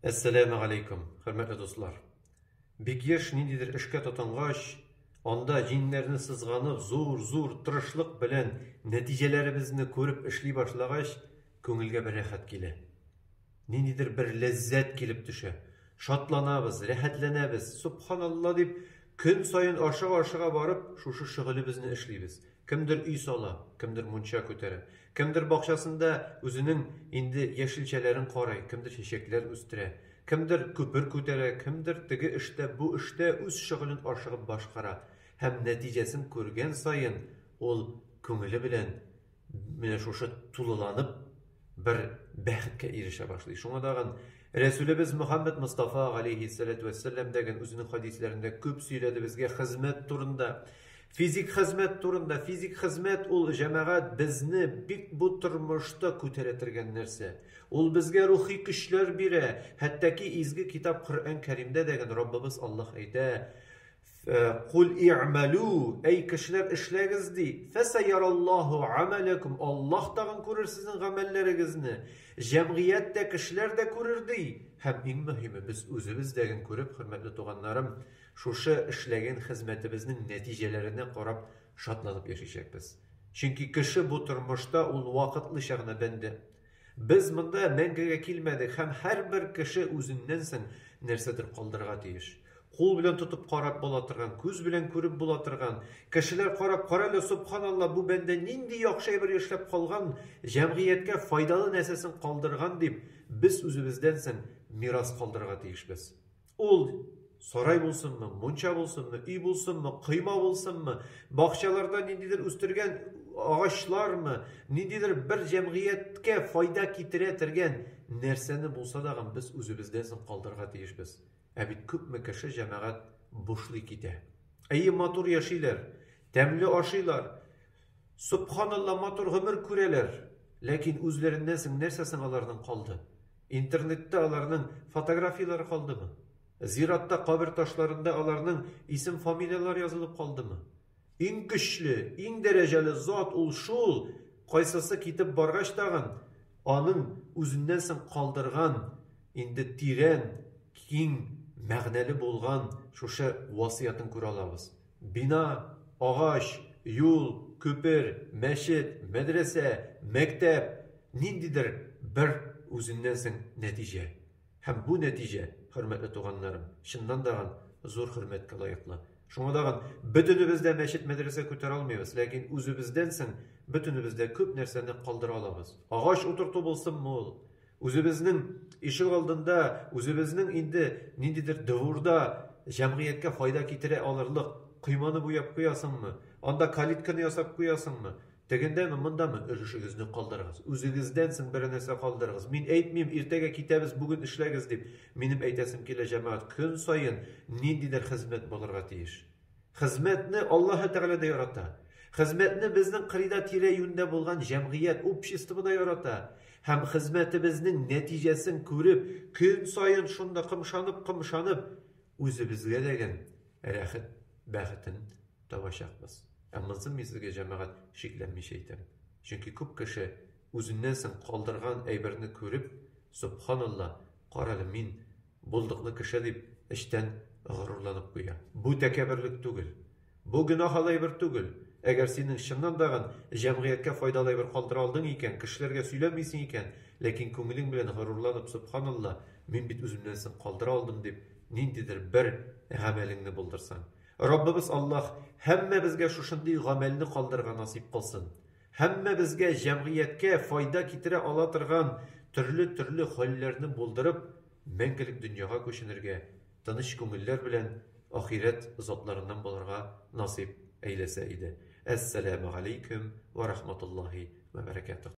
Әссәләмә галәйкүм, хөрмәтле дуслар! Бик еш ниндидер эшкә тотынгач, анда җиңнәрне сызганып, зур-зур тырышлык белән нәтиҗәләребезне күреп эшли башлагач, күңелгә бер рәхәт килә. Ниндидер бер ләззәт килеп төшә. Шатланабыз, рәхәтләнәбез. Субханалла дип, көн саен ашыга-ашыга барып, шушы шөгылебезне эшлибез. Кемдер өй сала, кемдер мунча күтәрә, Кемдер бакчасында үзенең инде яшелчәләрен карый, кемдер чәчәкләр үстерә, кемдер күпер күтәрә, кемдер теге эштә, бу эштә үз шөгылен ашыгып башкара һәм нәтиҗәсен күргән саен ул күңеле белән менә шушы тулыланып бер бәхеткә ирешә башлый. Шуңа тагын Рәсүлебез Мөхәммәд Мостафа, галәйһиссәләтү вәссәлам, дә гән үзенең хәдисләрендә күп сөйләде безгә хезмәт турында, физик хезмәт турында. Физик хезмәт ул, җәмәгать, безне бик бу тормышта күтәрә тергән нәрсә. Ул безгә рухи көчләр бирә. Хәттәки изге китап Коръән Кәримдә дә гән Раббыбыз Аллаһ әйтә, Куль и'мәлү, әй кешеләр эшләгез ди, фәсәйяраллаһу гамәләкүм, Аллаһ тагын күрер сезнең гамәлләрегезне, җәмгыять тә, кешеләр дә күрер, ди. Һәм иң мөһиме, без үзебез дә ген күреп, хөрмәтле туганнарым, шушы эшләгән хезмәтебезнең нәтиҗәләренә карап шатланып яшичәкбез. Чөнки кеше бу тормышта ул вакытлыча гына бәндә. Без монда мәңгегә килмәдек һәм һәрбер кеше үзеннән соң нәрсәдер калдырырга тиеш. Кул белән тотып карап була торган, күз белән күреп була торган, кешеләр карап, карале, собханалла, бу бәндә нинди яхшы әйбер эшләп калган, җәмгыятькә файдалы нәрсәсен калдырган дип, без үзебездән соң мирас калдырырга тиешбез. Ул сарай булсынмы, мунча булсынмы, өй булсынмы, койма булсынмы, бакчаларда ниндидер үстергән агачлармы, ниндидер бер җәмгыятькә файда китерә тергән нәрсәне булса да без үзебездән соң калдырырга тиешбез. Ә бит күпме кеше җәмәгать бушлый китә. Әйе, матур яшиләр, тәмле ашыйлар, субханалла матур гомер күрәләр, ләкин үзләреннән соң нәрсә соң аларның калды? Интернетта аларның фотографияләре калдымы? Зиратта кабер ташларында аларның исем-фамилияләре язылып калдымы? Иң көчле, иң дәрәҗәле зат ул шул, кайсысы китеп баргач тагын, аның үзеннән соң калдырган инде тирән, киң мәгънәле булган шушы васыятен күрә алабыз. Бина, агач, юл, күпер, мәчет, мәдрәсә, мәктәп, ниндидер бер үзеннән соң нәтиҗә. Һәм бу нәтиҗә, хөрмәтле туганнарым, чыннан дагын зур хөрмәткә лаеклы. Шуңа дагын бөтенебез дә мәчет-мәдрәсә күтәрә алмыйбыз, ләкин үзебездән соң бөтенебез дә күп нәрсәне калдыра алабыз. Агач утырту булсынмы ул, Үзебезнең ишек алдында, үзебезнең инде ниндидер дворда җәмгыятькә файда китерә алырлык койманы буяп куясыңмы? Анда калитканы ясап куясыңмы? Тегендәме, мондамы? Өлешегезне калдырыгыз. Үзегездән соң бер нәрсә калдырыгыз. Мин әйтмим, иртәгә китәбез, бүген эшләгез дип. Минем әйтәсем килә, җәмәгать, көн саен ниндидер хезмәт булырга тиеш. Хезмәтне Аллаһы Тәгалә дә ярата. Хезмәтне безнең кырыйда тирә-юньдә булган җәмгыять, общество да ярата. Һәм хезмәтебезнең нәтиҗәсен күреп, көн саен шунда кымшанып-кымшанып, үзебезгә дәгән рәхет, бәхетен табачакбыз. Ә монысын мин сезгә, җәмәгать, шикләнмичә әйтәм. Чөнки күп кеше үзеннән соң калдырган әйберне күреп, Сөбханалла, карале, мин, Булдыклы кеше дип эчтән горурланып куя. Бу тәкәбберлек түгел. Бу гөнаһалы әйбер түгел. Әгәр синең чыннан дагын җәмгыятькә файдалы әйбер калдыра алдың икән, кешеләргә сөйләмисең икән, ләкин күңелең белән горурланып, Сөбханалла, мин бит үземнән соң калдыра алдым дип, ниндидер бер гамәлеңне булдырсаң. Раббыбыз Аллаһ һәммәбезгә шушындый гамәлне калдырырга насыйп кылсын. Һәммәбезгә җәмгыятькә файда китерә ала торган төрле-төрле хәлләрне булдырып, мәңгелек дөньяга күченергә, тыныч күңелләр белән ахирәт затларыннан булырга насыйп әйләсә иде. Әссәләмәгаләйкүм вә рахматуллаһи вә бәрәкәтүһ.